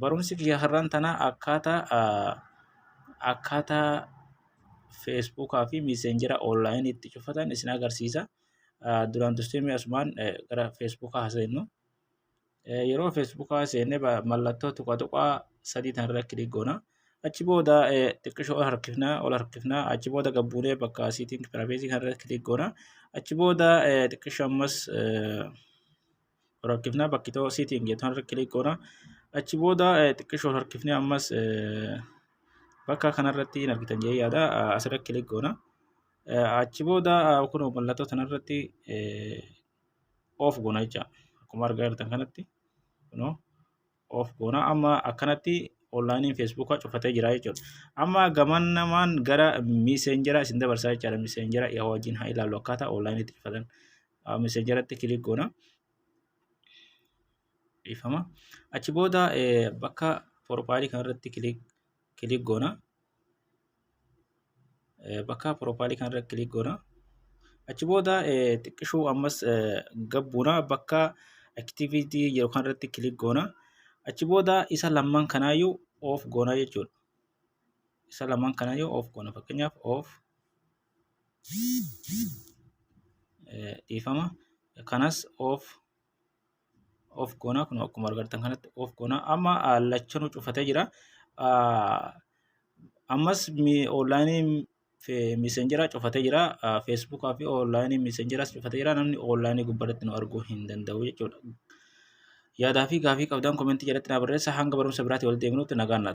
Barumsi kiyya har'aan tana akkaataa akkaataa Facebook fi Messenger online itti cufatan isin agarsiisa. Duraan dursee mee asumaan gara Facebook haa seennu. Yeroo Facebook seenne mallattoo tuqa tuqaa sadii tanarra kilik goona. Achi booda xiqqishoo ol harkifna ol harkifna achi booda gad buunee bakka setting privacy kanarra kilik goona. Achi booda xiqqishoo ammas Rakkifnaa bakki ta'oo siitiin geetu harka kilik goona. Achi booda xiqqishoon harkifnee ammas bakka kanarratti hin argitan jee yaada asirra kilik goona. Achi booda kun mallattoo kanarratti oof goona jecha akkuma argaa jirtan kanatti kunoo of goona amma akkanatti onlaayiniin feesbuukaa cufatee jira jechuudha. Amma gaman namaan gara miiseenjera isin dabarsaa jechaadha. Miiseenjera yaa wajjin haa ilaallu akkaataa onlaayiniitti cufatan. Miiseenjeratti kilik goona. Dhiifama. Achi booda bakka porofaayilii kanarratti kilik goona. bakka profaayilii kanarra kilik goona. Achi booda xiqqishuu ammas gad buuna bakka activity jedhu kanarratti kilik goona. Achi booda isa lamman kanaayyuu off goona jechuudha. Isa lamman kanaayyuu off goona fakkeenyaaf off dhiifama kanas off of goonaa kun akkuma argartan kanatti of goonaa amma lachanu cufatee jira ammas onlaayinii misenjera cufatee jira feesbuukaa fi onlaayinii misenjeras cufatee jira namni onlaayinii gubbarratti nu arguu hin danda'u jechuudha yaadaa fi gaafii qabdan komentii jalatti naa barreessa hanga barumsa biraatti wal deebinutti nagaan